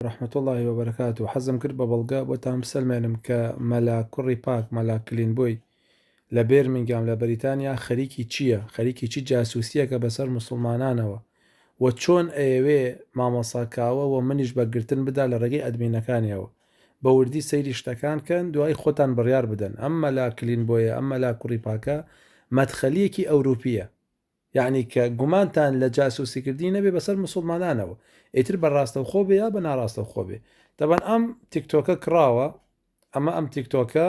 ورحمة اللە وبرکاته حەزم کرد بە بەڵگە بۆتان بسەلمێنم کە مەلا کوڕی پاک مەلا کلینبۆی لە بێرمینگام لە بەریتانیا خەریکی چیە خەریکی چ جاسوسیەکە بەسەر موسڵمانانەوە و چۆن ئەیەوێ مامۆسا کاوە و منیش بە گرتن بدا لە ڕێگەی ئەدمینەکانیەوە بە وردی سەیری شتەکان کەن دوایی خۆتان بڕیار بدەن ئەم مەلا کلینبۆیە ئەم مەلا کوڕی پاکە مەدخەلیەکی ئەوروپیە یەعنی کە گومانتان لە جاسوسی کردنی نەبێ بەسەر موسوڵمانانەوە ئیتر بە ڕاستەوخۆ بێ یا بە ناڕاستەوخۆ بێ تەبەن ئەم تیکتۆکە کڕاوە ئەمە ئەم تیکتۆکە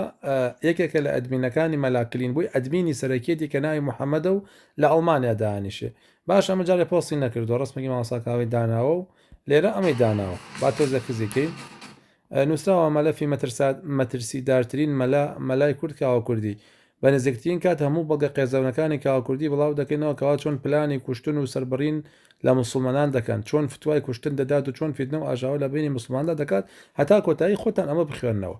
یەکێکە لە ئەدمینەکانی مەلاکلین بووی ئەدمینی سەرەکیەتی کە ناوی محەممەدە و لە ئەڵمانیا دانیشێ باش ئەمە جارێ پۆستی نەکردو ڕستمەگی ماوەساکاوی داناوە و لێرە ئەمەی داناوە با تۆزە کزیکەین نوسراوە مەلەفی مەترسات مەترسیدارترین مەلا مەلای کورد کاوە کوردی بە نزیکترین کات هەموو بەڵگە قێزەونەکانی کاوە کوردی بڵاو دەکەینەوە کەوا چۆن پلانی کوشتن و سەربڕین لە موسڵمانان دەکەن چۆن فتوای کوشتن دەدات و چۆن فیتنە و ئاژاوە لە بەینی موسڵماناندا دەکات هەتا کۆتایی خۆتان ئەمە بخوێننەوە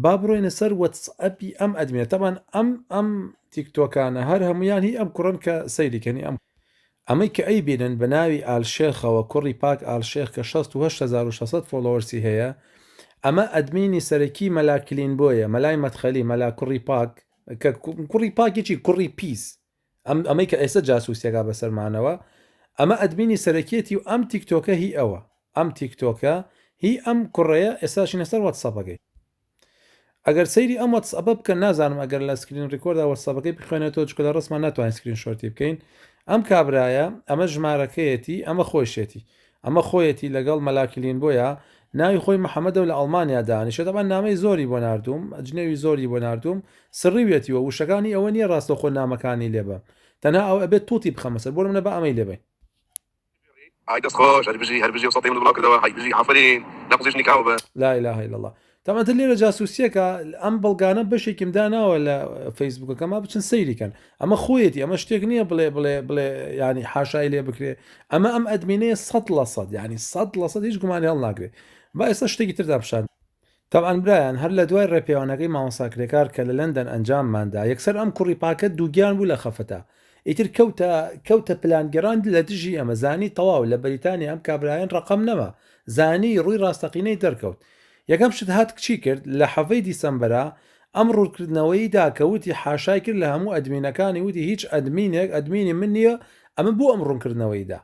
با بڕۆینە سەر وەتسئەپی ئەم ئەدمینە تەبان ئەم ئەم تیکتۆکانە هەر هەموویان هی ئەم کوڕەن کە سەیری کەنی ئەم ئەمەی کە ئەیبینن بە ناوی ئال شێخەوە کوڕی پاک ئال شێخ کە شەست و هەشت هەزار و شەش سەد فۆڵۆوەرسی هەیە ئەمە ئەدمینی سەرەکی مەلا کلین بۆیە مەلای مەدخەلی مەلا کوڕی پاک کە کوڕی پاکی چی کوڕی پیس ئەم ئەمەی کە ئێستا جاسوسیەکە بەسەرمانەوە ئەمە ئەدمینی سەرەکیەتی و ئەم تیکتۆکە هی ئەوە ئەم تیکتۆکە هی ئەم کوڕەیە ئێستاشینە سەر وەتسەپەکەی ئەگەر سەیری ئەم وەتسئەپە بکەن نازانم ئەگەر لە سکرین ڕیکۆردا وەتسەپەکەی بخوێنێتەوە چکە لە ڕسمان ناتوانین سکرین شۆرتی بکەین ئەم کابرایە ئەمە ژمارەکەیەتی ئەمە خۆشێتی ئەمە خۆیەتی لەگەڵ مەلاکلین بۆیە ناوی خۆی محەممەدە لە ئەڵمانیا دانیشە دەبان نامەی زۆری بۆ نردوم جنێوی زۆری بۆ نردوم سڕیوێتیوە وشەکانی ئەوە نییە ڕاستەخۆ نامەکانی لێبە تەنها ئەو ئەبێت توتی بخەمەسەر بۆ منە بە ئەمەی لێبین ئای دەست خۆش هەر بژی هەر بژی ئەو سەتەی منت بڵاو کردەوە هەی بژی ئافەرین لە قوزیش نکاو بە. لا اله الا اللە تام ئەتر لێرە جاسوسیەکە ئەم بەڵگانە بەشێکیم داناوە لە فەیسبوکەکەما بچن سەیری کەن ئەمە خۆیەتی ئەمە شتێک نییە بڵێ بڵێ بڵێ یانی حاشای لێ بکرێ ئەمە ئەم ئەدمینەیە سەد لە سەد یانی سەد لە سەد هیچ گومانی هەڵناگرێ با ئێستا شتێکی تردا پیشان تەبعەن برایان هەر لە دوای ڕێپێوانەکەی مامۆستا کرێکار کە لە لەندەن ئەنجاممان دا یەکسەر ئەم کوڕی پاکە دووگیان بوو لە خەفەتا ئیتر کەوتە کەوتە پلان گێڕان لە دژی ئێمە زانی تەواو لە بەریتانیا ئەم کابرایەن ڕەقەم نەما زانی ڕووی ڕاستەقینەی دەرکەوت یەکەم شت هات کچی کرد لە حەڤەی دیسەمبەرا ئەم ڕوونکردنەوەی دا کە وتی حاشای کرد لە هەموو ئەدمینەکانی وتی هیچ ئەدمینێک ئەدمینی من نییە ئەمن بۆ ئەم ڕوونکردنەوەی دا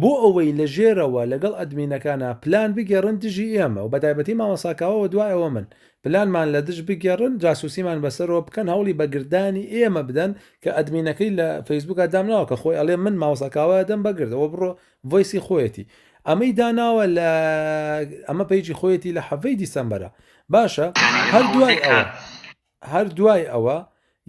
بۆ ئەوەی لە ژێرەوە لەگەڵ ئەدمینەکانا پلان بگێڕن دژی ئێمە و بەتایبەتی مامۆستا کاوە و دوای ئەوە من، پلانمان لە دژ بگێڕن جاسوسیمان بەسەرەوە بکەن هەوڵی بە گردانی ئێمە بدەن کە ئەدمینەکەی لە فەیسبوکا دامناوە کە خۆی ئەڵێ من مامۆستا کاوە ئەدەم بە گرد ئەوە بڕۆ ڤۆیسی خۆیەتی ئەمەی داناوە لە ئەمە پەیجی خۆیەتی لە حەڤەی دیسەمبەرە باشە هەر دوای ئەوە. هەر دوای ئەوە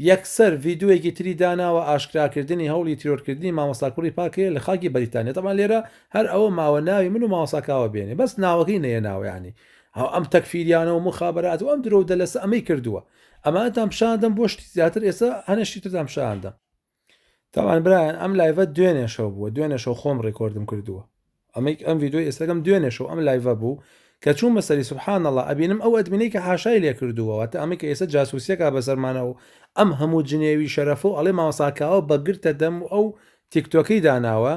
یەکسەر ڤیدۆیەکی تری داناوە ئاشکراکردنی هەوڵی تیرۆرکردنی مامۆستا کوڕی پاکەیە لە خاکی بەریتانیا تەمان لێرە هەر ئەوە ماوە ناوی من و مامۆستا کاوە بێنێ بەس ناوەکەی نەیەناوە یانی هەو ئەم تەکفیریانە و مخابرات و ئەم درۆ و دەلەسە ئەمەی کردووە ئەمانتان پیشاندەم بۆ شتی زیاتر ئێستا هەنە شتی ترتان پیشاندەم تاوان برایان ئەم لایڤە دوێنێ شەو بووە دوێنێ شەو خۆم ڕێکۆردم کردووە ئەمەیک ئەم ڤیددیو ئێستەکەم دوێنێ شەو ئەم لایڤە بوو کە چوون بەسەری سبحان الله ئەبینم ئەو ئەدمینەی کە حاشای لێ کردووەوە تا ئەمە کە ئێستا جاسوسیەکە بەسەرمانە و ئەم هەموو جنێوی شەرەف و ئەڵێ ماوەساکاوە بەگرتە دەم و ئەو تیکتۆکەی داناوە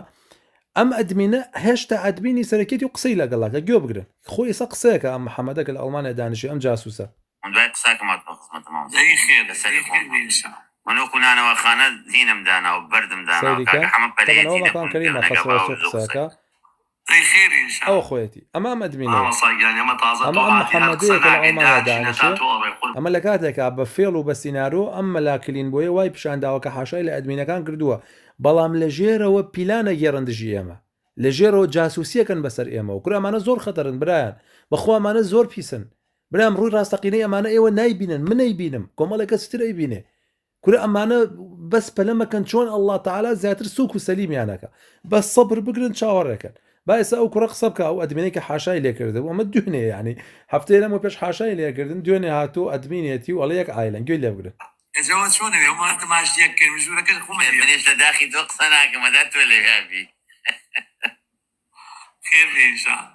ئەم ئەدمینە هێشتا ئەدمینی سەرەکێتی و قسەی لەگەڵاکە گوێ بگرن خۆی ئێستا قسەیەکە ئەم محەممەدەکە لە ئەڵمانیا دانیشی ئەم جاسوسە من دوای قساکەم هاتمە خزمەتت مامۆستا زەوی خێر لە سەری خۆم بێ من وەکو نانەواخانە دینم داناو بەردم داناو کاکە حەمە پەرەیەتی لە کونت کرد ئەگە باوک زۆ قسەکە زەوی خێر انشاء اللە ئەوە خۆیەتی ئەمە ئەم ئەدمینەیە مامۆستا گیان ئێمە تازە ئەمە ئەم محمدەیە کە لە ئەڵمانیا دانیشێ ئەمە لە کاتێکا بە فێڵ و بە سینارۆ ئەم مەلا کلین بۆیە وای پیشان داوە کە حاشای لە ئەدمینەکان کردووە بەڵام لە ژێرەوە پیلان ئەگێڕن دژی ئێمە لە ژێرەوە جاسوسی ئەکەن بەسەر ئێمەوە کورە ئەمانە زۆر خەتەرن برایان بەخوا ئەمانە زۆر پیسن برام ڕووی ڕاستەقینەی ئەمانە ئێوە نایبینن من ئەیبینم کۆمەڵێک کەسی تر ئەیبینێ کورە ئەمانە بەس پەلە مەکەن چۆن ئەلله تعالا زیاتر سوک و سەلیمیانەکە بەس سەبر بگرن چاوەڕێکەن با ئێستا ئەو کوڕە قسە بکە ئەو ئەدمینەی کە حاشای لێکردن ئەمە دوێنێ ینی هەفتەیە لەمە پێش حاشای لێکردن دوێنێ هاتو ئەدمینێتی و ئەڵە یەک ئایلەن گوێ لێ بگرن ئەجەوە چۆنە وێ ئەمە تەماش یەک کرد ژوورەکەش خۆم منێش لە داخی تۆ قسە ناکەم مەدا تۆ لەوێ بی خێر بێ ئینشاڵڵا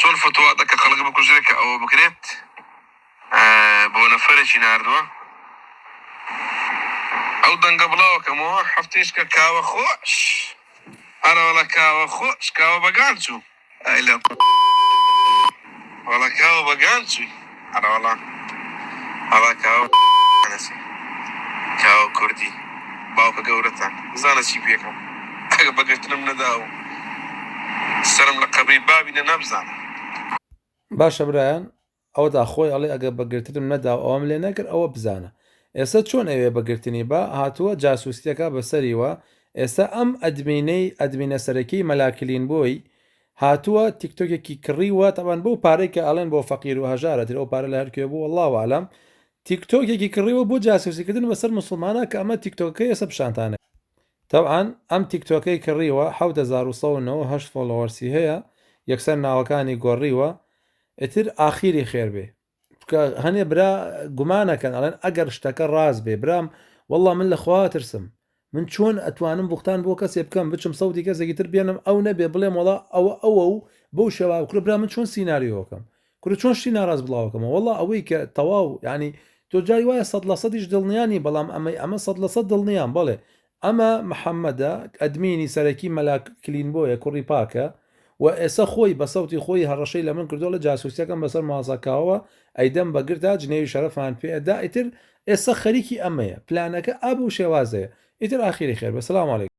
چۆن فتوا دە کە خەڵک بکوژرێ کە ئەوە بکرێت بۆ نەفەرێکی ناردووە ئەو دەنگە بڵاوەکەمەوە هەفتێش کە کاوە خۆش هەرەوەڵە کاوە خۆش کاوە بەگان چوو ئەیلە وەڵە کاوە بەگان چووی ئەرەوەڵا ئەڵا کاوە نەچێ کاوە کوردی باوکە گەورەتان بزانە چی پێکەم ئەگە بەگرتنم نەدا و سەرم لە قەبری بابی نەنا بزانە. باشە برایان ئەوەتا خۆی ئەڵێ ئەگە بەگرتنم نەدا و ئەوەم لێ نەکرد ئەوە بزانە ئێستا چۆن ئەوێ بەگرتنی با هاتووە جاسوسیەکا بەسەریوە ئێستا ئەم ئەدمینەی ئەدمینە سەرەکی مەلا کلین بۆی هاتووە تیکتۆکێکی کڕیوە تەبان بەو پارەی کە ئەڵێن بۆ فەقیر و هەژارە تر ئەو پارە لە هەر کوێ بوو واللە اعلم تیکتۆکێکی کڕیوە بۆ جاسوسی کردن بەسەر موسڵمانان کە ئەمە تیکتۆکەکەی ئێستا پیشانتان تەبعەن ئەم تیکتۆکەی کڕیوە حەوت هەزار و سەد و نەوەد و هەشت فۆڵۆوەرسی هەیە یەکسەر ناوەکانی گۆڕیوە ئیتر ئاخیری خێر بێ. چونکە هەنێ برا گومانەکەن ئەڵێن ئەگەر شتەکە ڕاست بێ برام والله من لە خوا ترسم من چۆن ئەتوانم بوختان بۆ کەسێ بکەم بچم سەوتی کەسێکی تر بێنم ئەو نەبێ بڵێم وڵا ئەوە ئەوە و بەو شێوا کورە برا من چۆن سینناریۆکەم کورە چۆن شتی ناڕاست بڵاوکەمە والله ئەوەی کە تەواو ینی تۆ جای وایە سەد لە سەدیش دڵنیانی بەڵام ئەمەی ئەمە سەد لە سەد دڵنیان بڵێ ئەمە محەمەدە ئەدمینی سەرەکی مەلا کلینبۆیە کوڕی پاکە و ئێسە خۆی بە سەوتی خۆی هەڕەشەی لە من کردوە ڵە جاسوسیەکەم بەسەر ماڵسا کاوەوە ئەیدەم بە گرتا جنێوی شەرەفمان پێ ئەدا ئیتر ئێسە خەریکی ئەمەیە پلانەکە ئەب و شێوازەیە ئیتر ئاخیری خێر بێ سلام علیکم.